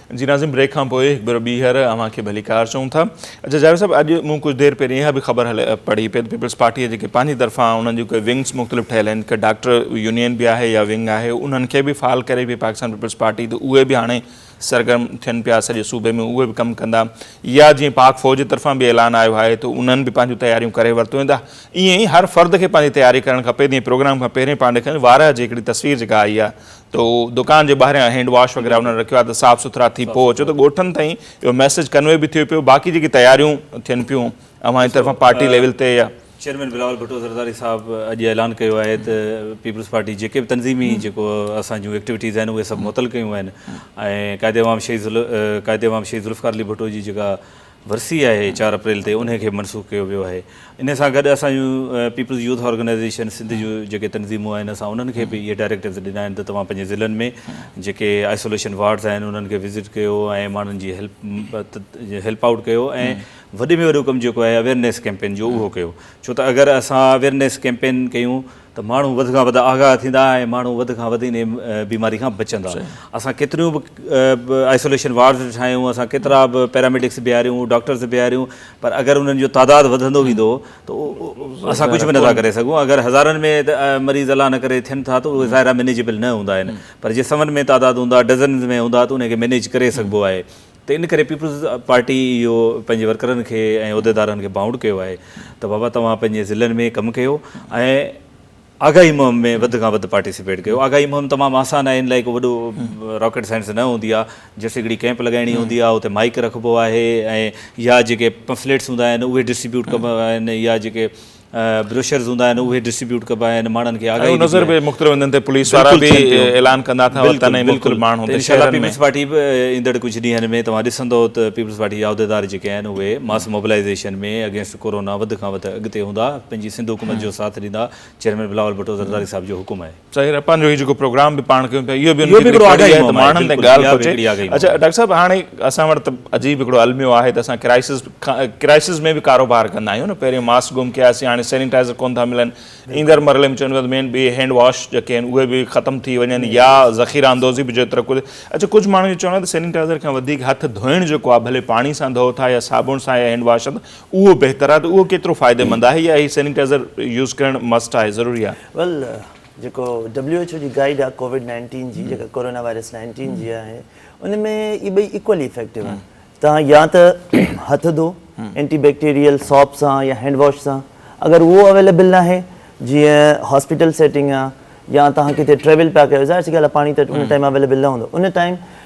Speaker 1: جي ناظم بريڪ کان پوء هڪ ڀيرو ٻيهر اوهان کي ڀليڪار چئون ٿا. اچا جاويد صاحب اڄ مون ڪجهه دير پهرين اها به خبر پڙهي پيد پيپلز پارٽي جيڪي پنهنجي طرفان انهن جون ڪي ونگز مختلف ٺهيل آهن ڪي ڊاڪٽر يونين به آهي يا ونگ آهي انهن کي به فعال ڪري پئي پاڪستان پيپلز پارٽي ته اهي به هاڻي سرگرم ٿين پيا سڄي صوبي ۾ اهي به ڪم ڪندا يا جيئن پاڪ فوج جي طرفان به اعلان آيو آهي ته انهن به پنهنجون تياريون ڪري ورتو آهن ته ائين ئي هر فرد کي پنهنجي تياري ڪرڻ کپي جيئن پروگرام کان پهرين پانڊي کان وارهه جي هڪڙي تصوير جيڪا آئي آهي تو دڪان جي ٻاهريان هينڊ واش وغيره انهن رکيو آهي ته صاف سٿرا ٿي پئو اچو ته ڳوٺن تائين اهو ميسيج ڪنوي به ٿيو پيو باقي جيڪي تياريون ٿين پيون اوهان جي طرفان پارٽي ليول تي يا چيئرمين بلاول ڀٽو
Speaker 2: زرداري صاحب اڄ اعلان ڪيو آهي ته پيپلز پارٽي جيڪي به تنظيمي جيڪو اسان جون ايڪٽيوٽيز آهن اهي سڀ معطل ڪيون آهن ۽ قائد عوام شهيد قائد عوام شهيد ذوالفقار علي ڀٽو جي جيڪا ورسي آهي چار اپريل تي انهي کي منسوخ ڪيو ويو آهي انهي سان گڏ اسان جون پيپلز يوٿ آرگنائيزيشن سنڌ جون جيڪي تنظيمون آهن اسان انهن کي به اهي ڊائريڪٽوز ڏنا آهن ته توهان پنهنجي ضلعن ۾ جيڪي آئسوليشن وارڊز آهن انهن کي وزٽ ڪيو ۽ ماڻهن جي هيلپ آئوٽ ڪيو ۽ وڏي ۾ وڏو ڪم جيڪو آهي اويرنيس ڪيمپين جو اهو ڪيو ڇو ته اگر اسان اويرنيس ڪيمپين ڪيون ته ماڻهو وڌ کان وڌ آگاهه ٿيندا ۽ ماڻهو وڌ کان وڌ ان بيماري کان بچندا اسان ڪيتريون به آئسوليشن وارڊز ٺاهيون اسان ڪيترا به پيراميڊڪس بيهاريون ڊاڪٽرز بيهاريون پر اگر انهن جو تعداد وڌندو ويندو ته اسان ڪجهه به نٿا ڪري سگهون اگر هزارن ۾ مريض الله نه ڪري ٿين ٿا ته اهي ظاهر آهي مينيجيبل نه هوندا آهن پر جي سون ۾ تعداد هوندا ڊزنز ۾ هوندا ته ان کي مينيج ڪري سگهبو آهي ته ان ڪري پيپلز پارٽي اهو پنهنجي ورڪرن کي ۽ عهديدارن کي بانڊ ڪيو آهي ته بابا توهان پنهنجي ضلعن ۾ ڪم ڪيو ۽ آگاهي مهم ۾ وڌ کان وڌ پارٽيسپيٽ ڪيو آگاهي مهم تمام آسان آهي ان لاء ڪو وڏو راڪيٽ سائنس نه هوندي آهي جسٽ هڪڙي ڪيمپ لڳائڻي هوندي آهي اتي مائيڪ رکبو آهي ۽ يا جيڪي پمفليٽس هوندا آهن اهي ڊسٽريبيوٽ ڪبا آهن يا جيڪي بروشرز هوندا آهن اهي ڊسٽريبيوٽ ڪبا آهن ماڻهن کي آگاهي ڏبي نظر به مختلف هنڌن تي پوليس
Speaker 1: وارا به اعلان ڪندا اٿا وطن ۽ مختلف ماڻهو ته شهرن ۾ پيپلز پارٽي
Speaker 2: به ايندڙ ڪجهه ڏينهن ۾ توهان ڏسندو ته پيپلز پارٽي جا عهديدار جيڪي آهن اهي ماس موبلائيزيشن ۾ اگينسٽ ڪورونا وڌ کان وڌ اڳتي هوندا پنهنجي سنڌ حڪومت جو ساٿ ڏيندا چيئرمين بلاول ڀٽو زرداري صاحب جو حڪم آهي ظاهر آهي پنهنجو هي جيڪو
Speaker 1: پروگرام به پاڻ ڪيون پيا اهو به ان کي آگاهي آهي ته ماڻهن تائين ڳالهه پهچي اڇا ڊاڪٽر صاحب هاڻي اسان وٽ ته عجيب هڪڙو الميو آهي ته اسان ڪرائسز ڪرائسز ۾ به ڪاروبار ڪندا آهيون نه پهرين ماسڪ گم ڪياسين هاڻي سينيٽائزر ڪون ٿا ملن ايندڙ مرحلي ۾ چون ٿا ته مين ٻي هينڊ واش جيڪي آهن اهي به ختم ٿي وڃن يا ذخيره اندوزي به جيترو ڪجهه اڇا ڪجهه ماڻهن جو چوڻ آهي ته سينيٽائزر کان وڌيڪ هٿ ڌوئڻ جيڪو آهي ڀلي پاڻي سان ڌوئو ٿا يا صابڻ سان يا هينڊ واش سان اهو بهتر آهي ته اهو ڪيترو فائديمند آهي يا هي سينيٽائزر يوز ڪرڻ مسٽ آهي ضروري آهي ويل جيڪو
Speaker 3: ڊبليو ايڇ او جي گائيڊ آهي ڪووڊ نائنٽين جي جيڪا ڪورونا وائرس نائنٽين جي آهي ان ۾ اهي ٻئي ايڪولي افيڪٽو آهن توهان يا ته هٿ ڌو اينٽي بيڪٽيريل سوپ سان يا هينڊ واش سان اگر اهو اويليبل نه آهي جيئن هاسپيٽل سيٽنگ آهي يا توهان ڪٿي ٽريول پيا ڪيو ظاهر سي ڳالهه آهي پاڻي ته ان ٽائيم اويليبل نه هوندو ان ٽائيم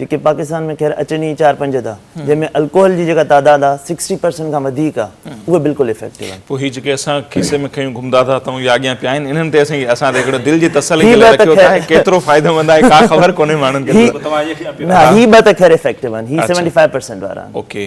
Speaker 3: جيڪي پاڪستان ۾ خير اچن ئي چار پنج ٿا جنهن ۾ الڪوحل جي جيڪا تعداد آ سڪسٽي پرسنٽ کان وڌيڪ آ اهي بلڪل افيڪٽو آهن. پوء هي جيڪي اسان کيسي
Speaker 1: ۾ کنيون گهمدا ٿا اتئون يا اڳيان پيا آهن انهن تي اسين اسان تي هڪڙو دل جي تسلي جي لاء رکيو ٿا هي ڪيترو فائديمند آهي ڪا خبر ڪونهي ماڻهن کي. نه هي
Speaker 3: ٻه ته خير افيڪٽو آهن هي سيونٽي فائيو پرسنٽ وارا آهن. اوڪي.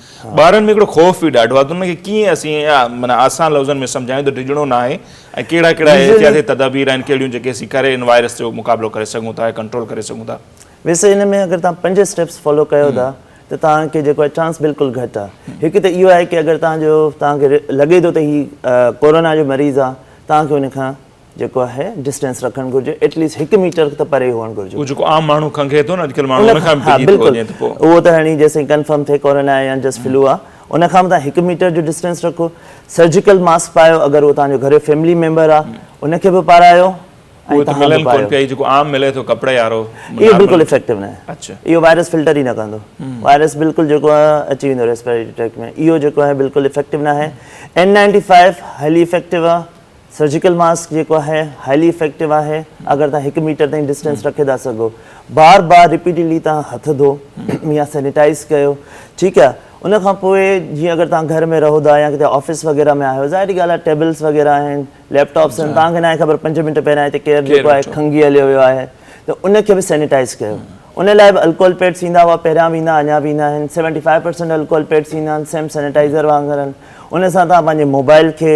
Speaker 1: ٻارن ۾ هڪڙو خوف به ڏاڍو آهي ته انهن کي ڪيئن اسين معنيٰ آسان لفظن ۾ سمجهايون ته ڊڄڻو نه آهي ۽ ڪهڙا ڪهڙا احتياطي تدابير آهن ڪهڙيون جيڪي اسين ڪري ان وائرس جو مقابلو ڪري سگهون ٿا يا ڪنٽرول ڪري سگهون ٿا. ويسي ان ۾ اگر
Speaker 3: توهان پنج اسٽيپس فالو ڪيو ٿا ته توهان کي جيڪو آهي چانس بلڪل گهٽ آهي. هڪ ته اهو آهي ڪي اگر توهان جو توهان کي لڳي ٿو ته هي ڪورونا جو مريض آهي توهان کي ان کان جيڪو آهي ڊسٽينس رکڻ گهرجي ايٽ ليسٽ هڪ ميٽر ته پري هئڻ گهرجي. اهو جيڪو عام ماڻهو کنگهي
Speaker 1: ٿو نه اڄڪلهه ماڻهو ان کان به ڊڄي ٿو وڃي ته پوء.
Speaker 3: اهو ته هيڻي جيسين ڪنفرم ٿئي ڪورونا يا جسٽ فلو آهي ان کان به تان هڪ ميٽر جو ڊسٽينس رکو سرجيڪل ماسڪ پايو اگر اهو تان جو گهريو فيملي ميمبر آهي ان کي به پارايو اهي ته ملن ڪونه
Speaker 1: پيا اهي جيڪو عام ملي ٿو ڪپڙي وارو اهو بلڪل افيڪٽو
Speaker 3: ناهي اهو وائرس فلٽر
Speaker 1: ئي نه
Speaker 3: ڪندو وائرس بلڪل جيڪو آهي اچي ويندو ريسپيريٽري ٽريڪٽ ۾ اهو جيڪو آهي بلڪل افيڪٽو ناهي N ninety five highly effective آهي سرجيڪل ماسڪ جيڪو آهي هائلي افيڪٽو آهي اگر توهان هڪ ميٽر تائين ڊسٽينس رکي ٿا سگهو بار بار رپيٽيلي توهان هٿ ڌو يا سينيٽائز ڪيو ٺيڪ آهي ان کان پوء جيئن اگر توهان گهر ۾ رهو ٿا يا ڪٿي آفيس وغيره ۾ آهيو ظاهري ڳالهه آهي ٽيبلس وغيره آهن ليپ ٽاپس آهن توهان کي ناهي خبر پنج منٽ پهريان هتي ڪير جيڪو آهي کنگهي هليو ويو آهي ته ان کي به سينيٽائز ڪيو ان لاء به الڪوهل پيڊس ايندا هئا پهريان به ايندا اڃا به ايندا آهن seventy five percent alcohol pads ايندا آهن سيم سينيٽائزر وانگر آهن ان سان توهان پنهنجي موبائل کي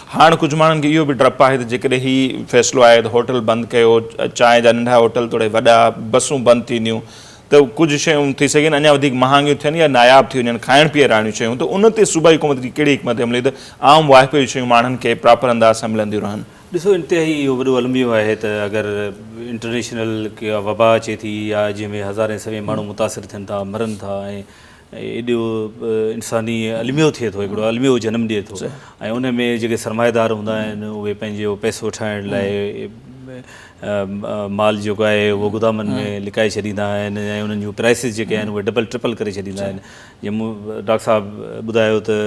Speaker 1: هاڻ ڪجهه ماڻهن کي اهو به ڊپ آهي ته جيڪڏهن هي فيصلو آهي ته هوٽل بند ڪيو، چانهه جا ننڍا هوٽل توڙي وڏا، بسون بند ٿينديون ته ڪجهه شيون ٿي سگهن اڃا وڌيڪ مهانگيون ٿين يا ناياب ٿي وڃن کائڻ پيئڻ واريون شيون ته ان تي صوبائي حڪومت جي ڪهڙي حڪمت عملي ته عام واهپي جون شيون ماڻهن کي پراپر انداز سان ملنديون رهن. ڏسو انتهائي اهو
Speaker 2: وڏو الميو آهي ته اگر انٽرنيشنل ڪا وبا اچي ٿي يا جنهن ۾ هزارين سوين ماڻهو متاثر ٿين ٿا مرن ٿا ۽ ايڏو انساني الميو ٿئي ٿو هڪڙو الميو جنم ڏئي ٿو ۽ ان ۾ جيڪي سرمائيدار هوندا آهن اهي پنهنجو پئسو ٺاهڻ لاء مال جيڪو آهي اهو گودامن ۾ لڪائي ڇڏيندا آهن ۽ انهن جون پرائسز جيڪي آهن اهي ڊبل ٽرپل ڪري ڇڏيندا آهن جيئن ڊاڪٽر صاحب ٻڌايو ته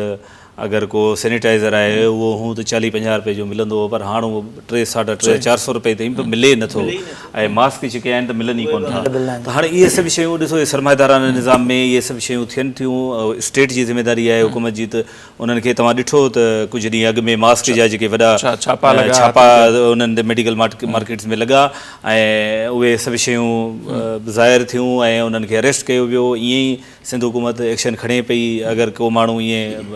Speaker 2: اگر ڪو سينيٽائيزر آهي اهو هون ته چاليهه پنجاهه رپئي جو ملندو هو پر هاڻ اهو ٽي ساڍا ٽي چار سئو رپئي تائين به ملي نه ٿو ۽ ماسڪ جيڪي آهن ته ملن ئي ڪونه ٿا ته هاڻ اهي سڀ شيون ڏسو اهي سرمائيدارانه نظام ۾ اهي سڀ شيون ٿين ٿيون اسٽيٽ جي ذميداري آهي حڪومت جي ته انهن کي توهان ڏٺو ته ڪجهه ڏينهن اڳ ۾ ماسڪ جا جيڪي وڏا ڇاپا انهن تي ميڊيڪل مارڪيٽس ۾ لڳا ۽ اهي سڀ شيون ظاهر ٿيون ۽ انهن کي اريسٽ ڪيو ويو ائين ئي سنڌ حڪومت ايڪشن کڻي پئي اگر ڪو ماڻهو ائين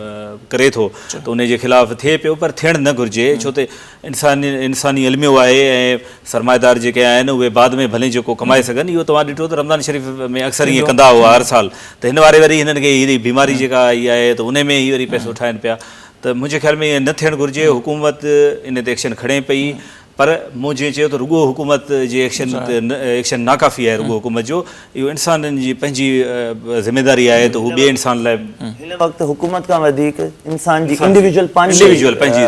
Speaker 2: ڪري ٿو ته ان جي خلاف ٿئي پيو پر ٿيڻ نه گهرجي ڇو ته انساني انساني الميو آهي ۽ سرمائيدار جيڪي آهن اهي بعد ۾ ڀلين جيڪو ڪمائي سگهن اهو توهان ڏٺو ته رمضان شريف ۾ اڪثر ائين ڪندا هئا هر سال ته هن واري وري هنن کي هي بيماري جيڪا آئي آهي ته ان ۾ هي وري پئسو ٺاهن پيا ته منهنجي خيال ۾ ائين نه ٿيڻ گهرجي حڪومت ان تي ايڪشن کڻي پئي پر مون جيئن چيو ته رڳو حڪومت جي ايڪشن ايڪشن ناڪافي آهي رڳو حڪومت جو اهو انسانن جي پنهنجي ذميداري آهي ته هو ٻئي انسان لاء هن وقت حڪومت
Speaker 3: کان وڌيڪ انسان جي انڊيويجول پنهنجي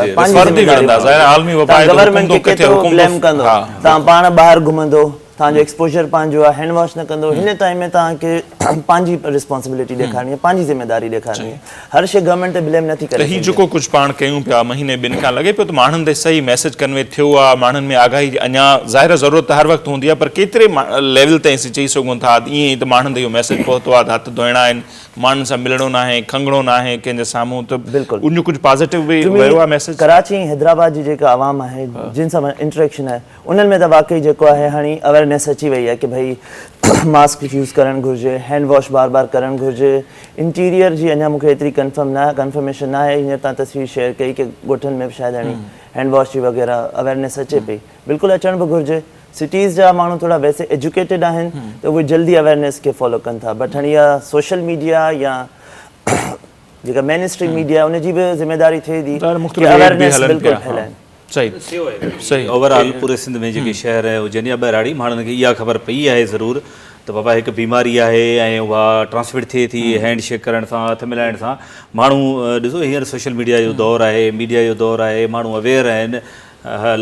Speaker 3: ذميداري ظاهر عالمي وبا آهي ته حڪومت ڪٿي حڪومت تان پاڻ ٻاهر گهمندو توهان جو ايڪسپوزر پنهنجو آهي هينڊ واش نه ڪندو هن ٽائيم ۾ توهان کي پنهنجي رسپانسبلٽي ڏيکارڻي آهي پنهنجي ذميداري ڏيکارڻي آهي هر شيء گورنمينٽ تي بليم نٿي ڪري سگهجي. هي جيڪو ڪجهه پاڻ ڪيون
Speaker 1: پيا مهيني ٻن کان لڳي پيو ته ماڻهن تائين صحيح ميسيج ڪنوي ٿيو آهي ماڻهن ۾ آگاهي جي اڃا ظاهر آهي ضرورت ته هر وقت هوندي آهي پر ڪيتري ليول تائين اسين چئي سگهون ٿا ته ائين ته ماڻهن تائين اهو ميسيج پهتو آهي ته هٿ ڌوئڻا آهن ماڻهن سان ملڻو ناهي کنگهڻو ناهي ڪنهن جي سامهون ته ان جو ڪجهه پازيٽو
Speaker 3: به
Speaker 1: ويو آهي ميسيج. ڪراچي ۽ حيدرآباد جي
Speaker 3: جيڪا عوام آهي جن سان انٽريڪشن آهي انهن ۾ ته واقعي جيڪو آهي هاڻي اويرنيس اچي وئي آهي ڪي ڀئي ماسڪ يوز ڪرڻ گهرجي، هينڊ واش بار بار ڪرڻ گهرجي، انٽيريئر جي اڃا مون کي ايتري ڪنفرم نه ڪنفرميشن نه آهي هينئر تان تصوير شيئر ڪئي ڪي ڳوٺن ۾ به شايد هاڻي هينڊ واش جي وغيره اويرنيس اچي پئي بلڪل اچڻ به گهرجي سٽيز جا ماڻهو ٿورا ويسي ايجوڪيٽيڊ آهن ته اهي جلدي اويرنيس کي فالو ڪن ٿا بٽ هاڻي اها سوشل ميڊيا يا جيڪا مين اسٽريم ميڊيا ان جي به ذميداري ٿئي ٿي ڪي اويرنيس بلڪل ڦهلائن.
Speaker 1: صحيح اوور آل پوري
Speaker 2: سنڌ ۾ جيڪي شهر هجن يا ٻهراڙي ماڻهن کي اها خبر پئي آهي ضرور ته بابا هڪ بيماري آهي ۽ اها ٽرانسمٽ ٿئي ٿي هينڊ شيڪ ڪرڻ سان هٿ ملائڻ سان ماڻهو ڏسو هينئر سوشل ميڊيا جو دور آهي ميڊيا جو دور آهي ماڻهو اويئر آهن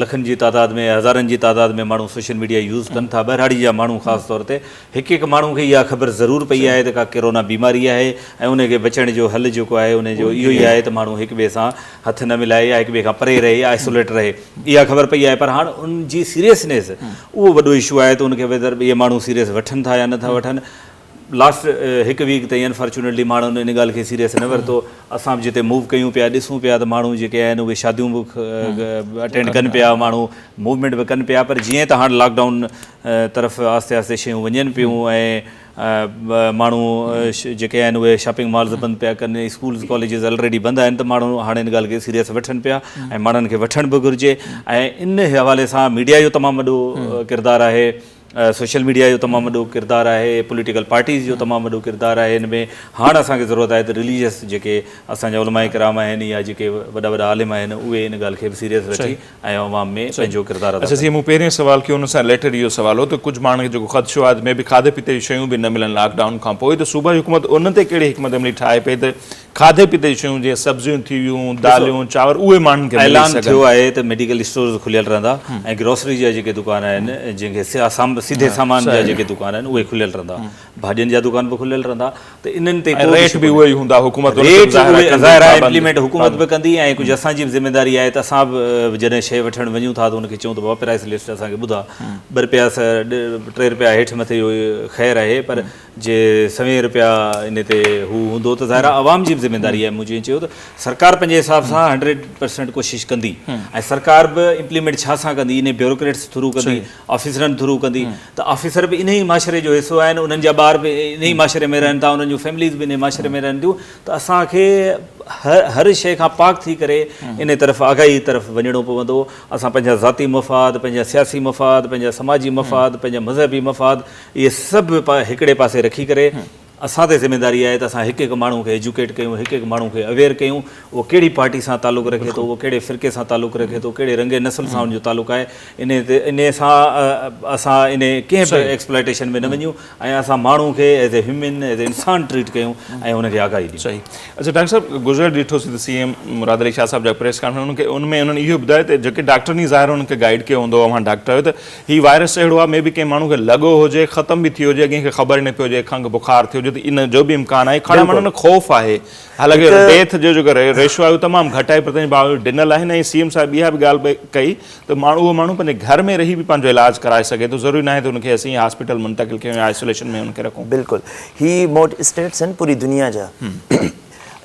Speaker 2: لکن جي تعداد ۾ هزارن جي تعداد ۾ ماڻهو سوشل ميڊيا يوز ڪن ٿا ٻهراڙي جا ماڻهو خاص طور تي هڪ هڪ ماڻهو کي اها خبر ضرور پئي آهي ته ڪا ڪرونا بيماري آهي ۽ ان کي بچڻ جو حل جيڪو آهي ان جو اهو ئي آهي ته ماڻهو هڪ ٻئي سان هٿ نه ملائي يا هڪ ٻئي کان پري رهي، Isolate، رهي اها خبر پئي آهي پر هاڻ ان جي سيريسنيس اهو وڏو ايشو آهي ته ان کي ويڌر ٻئي ماڻهو سيريس وٺن ٿا يا نٿا وٺن لاسٽ هڪ ويڪ تائين انفارچونيٽلي ماڻهن ان ڳالهه کي سيريس نه ورتو اسان به جتي موو ڪيون پيا ڏسون پيا ته ماڻهو جيڪي آهن اهي شاديون به اٽينڊ ڪن پيا ماڻهو موومينٽ به ڪن پيا پر جيئن ته هاڻ لاڪ ڊائون طرف آهستي آهستي شيون وڃن پيون ۽ ماڻهو جيڪي آهن اهي شاپنگ مالز بند پيا ڪن اسڪولز ڪاليجز الريڊي بند آهن ته ماڻهو هاڻي ان ڳالهه کي سيريس وٺن پيا ۽ ماڻهن کي وٺڻ به گهرجي ۽ ان حوالي سان ميڊيا جو تمام وڏو ڪردار آهي سوشل ميڊيا جو تمام وڏو ڪردار آهي پوليٽيڪل پارٽيز جو تمام وڏو ڪردار آهي ان ۾ هاڻ اسان کي ضرورت آهي ته رليجس جيڪي اسان جا علماء ڪرام آهن يا جيڪي وڏا وڏا عالم آهن اهي ان ڳالهه کي به سيريس وٺي ۽ عوام ۾ پنهنجو ڪردار ادا ڪن. جيئن مون پهرين سوال
Speaker 1: ڪيو
Speaker 2: ان
Speaker 1: سان رليٽيڊ اهو سوال هو ته ڪجهه ماڻهن کي جيڪو خدشو آهي ته مي بي کاڌي پيتي جون شيون به نه ملن لاڪ ڊائون کان پوء ته صوبائي حڪومت ان تي ڪهڙي حڪمت عملي ٺاهي پئي ته کاڌي پيتي جون شيون جيئن سبزيون ٿي ويون، داليون، چانور اهي ماڻهن کي ملي سگهن. اعلان ٿيو آهي ته
Speaker 2: ميڊيڪل اسٽورز کليل رهندا ۽ گروسري جا جيڪي دڪان آهن جنهن کي سيڌي سامان جا جيڪي دڪان آهن اهي کليل رهندا. ڀاڄين جا دڪان به کليل رهندا ته انهن تي ڪو ريٽ به اهي ئي هوندا
Speaker 1: حڪومت ريٽ ظاهر
Speaker 2: آهي امپليمينٽ حڪومت به ڪندي ۽ ڪجهه اسان جي به ذميواري آهي ته اسان به جڏهن شيء وٺڻ وڃون ٿا ته ان کي چئون ته بابا پرائس لسٽ اسان کي ٻڌاء ٻه رپيا ٽي رپيا هيٺ مٿي اهو خير آهي پر جي سوين رپيا ان تي هو هوندو ته ظاهر آهي عوام جي به ذميواري آهي مون جيئن چيو ته سرڪار پنهنجي حساب سان هنڊريڊ پرسينٽ ڪوشش ڪندي ۽ سرڪار به امپليمينٽ ڇا سان ڪندي انهي بيوروڪريٽس ٿرو ڪندي آفيسرن ٿرو ڪندي ته آفيسر به انهي معاشري جو حصو آهن انهن جا ٻار به انهي معاشري ۾ رهن ٿا انهن جون فيمليز به انهي معاشري ۾ رهن ٿيون ته اسان کي هر شيء کان پاڪ ٿي ڪري انهي طرف آگاهي طرف وڃڻو پوندو اسان پنهنجا ذاتي مفاد پنهنجا سياسي مفاد پنهنجا سماجي مفاد پنهنجا مذهبي مفاد اهي سڀ هڪڙي پاسي رکي ڪري اسان تي ذميواري آهي ته اسان هڪ هڪ ماڻهو کي ايجوڪيٽ ڪيون، هڪ هڪ ماڻهو کي اويئر ڪيون، اهو ڪهڙي پارٽي سان تعلق رکي ٿو، اهو ڪهڙي فرقي سان تعلق رکي ٿو، ڪهڙي رنگ نسل سان ان جو تعلق آهي، انهي تي انهي سان اسان انهي ڪنهن به ايڪسپلائيٽيشن ۾ نه وڃون ۽ اسان ماڻهو کي as a human, as a انسان ٽريٽ ڪيون ۽ ان کي آگاهي ڏيون. صحيح. اڇا ڊاڪٽر صاحب
Speaker 1: گذريل ڏٺو سي ته سي ايم مراد علي شاهه صاحب جا پريس ڪانفرنس ان ۾ انهن اهو ٻڌايو ته جيڪي ڊاڪٽرن ئي ظاهر انهن کي گائيڊ ڪيو هوندو اوهان ڊاڪٽر آهيو ته هي وائرس اهڙو آهي مي بي ڪنهن ماڻهو کي لڳو هجي ختم به ٿي هجي اڳين کي خبر ئي نه پئي هجي کنگهه بخار ٿيو هجي ته ان جو به امڪان آهي کڻڻ ماڻهن ۾ خوف آهي حالانڪه ڊيٿ جو جيڪو ريشو آهي اهو تمام گهٽ آهي پر تنهنجي باوجود ڊنل آهن ۽ سي ايم صاحب اها به ڳالهه ڪئي ته ماڻهو اهو ماڻهو پنهنجي گهر ۾ رهي به پنهنجو علاج ڪرائي سگهي ٿو ضروري ناهي ته ان کي اسين هاسپيٽل منتقل ڪيون يا آئسوليشن ۾ ان کي رکون. بلڪل هي
Speaker 3: موڊ اسٽيٽس آهن پوري دنيا جا.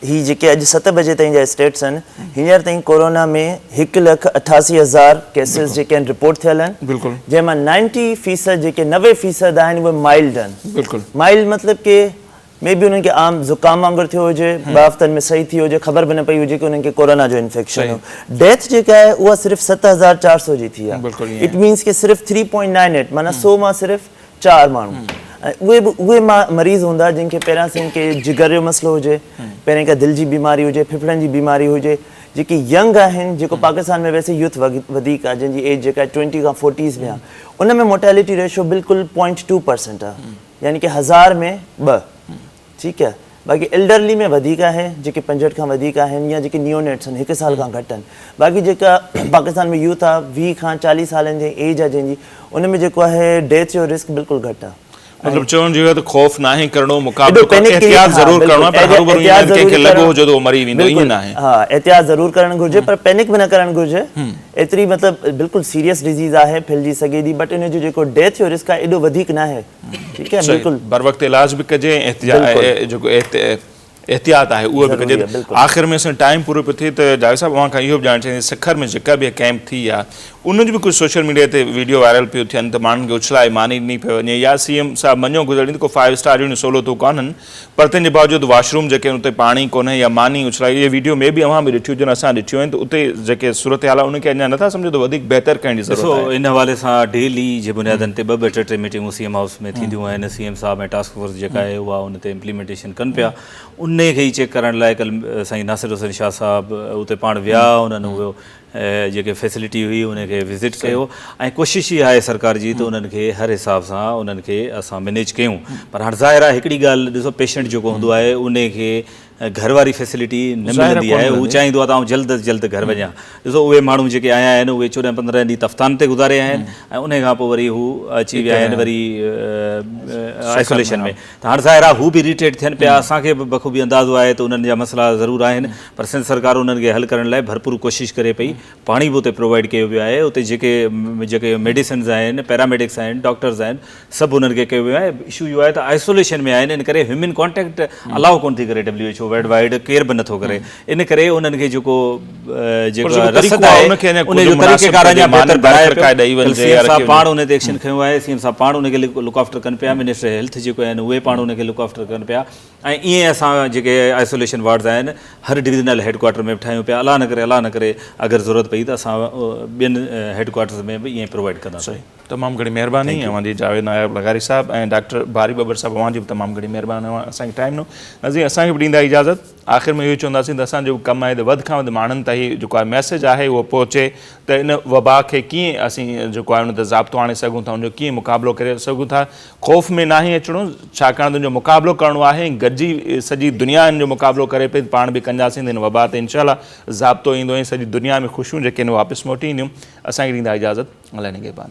Speaker 3: هي جيڪي اڄ ست بجي تائين جا اسٽيٽس آهن هينئر تائين ڪورونا ۾ هڪ لک اٺاسي هزار ڪيسز جيڪي آهن رپورٽ ٿيل آهن جنهن مان نائنٽي فيصد جيڪي نوي فيصد آهن اهي مائلڊ آهن مائلڊ مطلب
Speaker 1: ڪي
Speaker 3: مي بي انهن کي عام زڪام وانگر ٿيو هجي ٻه هفتن ۾ صحيح ٿي هجي خبر به نه پئي هجي ڪي انهن کي ڪورونا جو انفيڪشن هو ڊيٿ جيڪا آهي اها صرف ست هزار چار سو جي ٿي آهي اٽ مينس ڪي صرف ٿري پوائنٽ نائن ايٽ معنيٰ سو مان صرف چار ماڻهو ۽ اهي به اهي مريض هوندا جن کي پهريان سين ڪي جگر جو مسئلو هجي پهرين ڪا دل جي بيماري هجي ڦڦڙن جي بيماري هجي جيڪي ينگ آهن جيڪو پاڪستان ۾ ويسي يوٿ وڌيڪ آهي جن جي ايج جيڪا ٽوئنٽي کان فورٽيز ۾ آهي ان ۾ موٽيلٽي ريشو بلڪل پوائنٽ ٽو پرسنٽ آهي يعني ڪي هزار ۾ ٻه ٺيڪ آهي باقي ايلڊرلي ۾ وڌيڪ آهي جيڪي پنجهٺ کان وڌيڪ آهن يا جيڪي نيو نيٽس آهن هڪ سال کان گهٽ آهن باقي جيڪا پاڪستان ۾ يوٿ آهي ويهه کان چاليهه سالن جي ايج آهي جنهن جي ان ۾ جيڪو آهي ڊيٿ جو رسڪ بلڪل گهٽ آهي مطلب چوڻ جي اهو ته
Speaker 1: خوف ناهي ڪرڻو مقابلو ڪرڻو احتياط ضرور ڪرڻو آهي پر هروڀرو ائين ناهي ڪنهن کي لڳو هجي ته اهو مري ويندو ائين ناهي ها احتياط ضرور ڪرڻ
Speaker 3: گهرجي پر پينڪ به نه ڪرڻ گهرجي ايتري مطلب بلڪل سيريس ڊزيز آهي ڦهلجي سگهي ٿي بٽ ان جو جيڪو ڊيٿ جو رسڪ آهي ايڏو وڌيڪ ناهي بروقت علاج به ڪجي احتياط آهي اهو به ڪجي آخر ۾ اسان ٽائيم پورو پيو ٿئي ته جاويد صاحب اوهان کان اهو به ڄاڻڻ چاهيندي سکر ۾ جيڪا به ڪيمپ ٿي يا ان جو به ڪجهه سوشل ميڊيا تي ويڊيو وائرل پيو ٿين ته ماڻهن کي اڇلائي ماني ڏني پيو وڃي يا سي ايم صاحب مڃو گذري ته ڪو فائيو اسٽار جهڙيون سهولتون ڪانهن پر تنهن جي باوجود واش روم جيڪي آهن اتي پاڻي ڪونهي يا ماني اڇلائي اهي ويڊيو مي بي اوهان به ڏٺيون هجن اسان ڏٺيون آهن ته اتي جيڪي صورتحال آهي ان کي اڃا نٿا سمجهو ته وڌيڪ بهتر ڪرڻ جي ضرورت آهي. ڏسو ان حوالي سان ڊيلي
Speaker 2: جي بنيادن تي ٻه ٻه ٽي ٽي ميٽنگون سي ايم هائوس ۾ ٿينديون آهن سي ايم صاحب ۽ ٽاسڪ فورس جيڪا آهي اها ان تي امپليمينٽيشن ڪن پيا انهي کي ئي چيڪ ڪرڻ لاء ڪل سائين ناصر حسين شاهه صاحب اتي پاڻ ويا انهن هو جيڪي فيسلٽي هئي انهن کي وزٽ ڪيو ۽ ڪوشش هي آهي سرڪار جي ته انهن کي هر حساب سان انهن کي اسان مينيج ڪيون پر هاڻ ظاهر آهي هڪڙي ڳالهه ڏسو پيشنٽ جيڪو هوندو آهي انهي کي گهر واري فيسلٽي نه ملندي آهي هو چاهيندو آهي ته آئون جلد از جلد گهر وڃان ڏسو اهي ماڻهو جيڪي آيا آهن اهي چوڏهن پندرهن ڏينهن تفتان تي گذاريا آهن ۽ انهي کان پوء وري هو اچي ويا آهن وري آئسوليشن ۾ ته هاڻ ظاهر آهي هو به Irritate ٿين پيا، اسان کي به بخوبي اندازو آهي ته انهن جا مسئلا ضرور آهن پر سنڌ سرڪار انهن کي حل ڪرڻ لاء ڀرپور ڪوشش ڪري پئي، پاڻي به اتي Provide ڪيو ويو آهي، اتي جيڪي جيڪي Medicines آهن، Paramedics آهن، Doctors آهن، سڀ انهن کي ڪيو ويو آهي، Issue اهو آهي ته Isolation ۾ آهن ان ڪري Human Contact Allow ڪونه ٿي ڪري WHO World Wide ڪير به نٿو ڪري ان ڪري انهن کي جيڪو جيڪو رسد آهي ان کي اڃان ڪجهه مناسب طريقي بهتر بڻائي پيو ۽ سي ايم صاحب پاڻ ان تي ايڪشن کنيو آهي سي ايم صاحب پاڻ ان کي لڪ آفٽر ڪن پيا منسٽر هيلٿ جيڪو آهن اهي پاڻ ان کي لڪ آفٽر ڪن پيا ۽ ائين اسان جيڪي آئسوليشن وارڊز آهن هر ڊويزنل هيڊ ڪوارٽر ۾ به ٺاهيون پيا الله نه ڪري الله نه ڪري اگر ضرورت پئي ته اسان ٻين هيڊ ڪوارٽرز ۾ به ائين پرووائيڊ ڪنداسين تمام گھڻي مهرباني
Speaker 1: اوهان جي جاويد ناياب لغاري صاحب ۽ ڊاڪٽر باري ٻٻر صاحب اوهان جي به تمام گھڻي مهرباني اوهان اسان کي ٽائيم ڏنو ناظرين اسان کي به ڏيندا اجازت آخر ۾ اهو ئي چونداسين ته اسان جو به ڪم آهي ته وڌ کان وڌ ماڻهن تائين جيڪو آهي ميسيج آهي اهو پهچي ته ان وبا کي ڪيئن اسين جيڪو آهي ان تي ضابطو آڻي سگهون ٿا ان جو ڪيئن مقابلو ڪري سگهون ٿا خوف ۾ ناهي اچڻو ڇاڪاڻ ته ان جو مقابلو ڪرڻو آهي ۽ گڏجي سڄي دنيا ان جو مقابلو ڪري پئي ته پاڻ به ڪنجاسين ته ان وبا تي انشاء الله ضابطو ايندو ۽ سڄي دنيا ۾ خوشيون جيڪي آهن اهي واپس موٽي اينديون اسان کي ڏيندا اجازت الله نگهبان.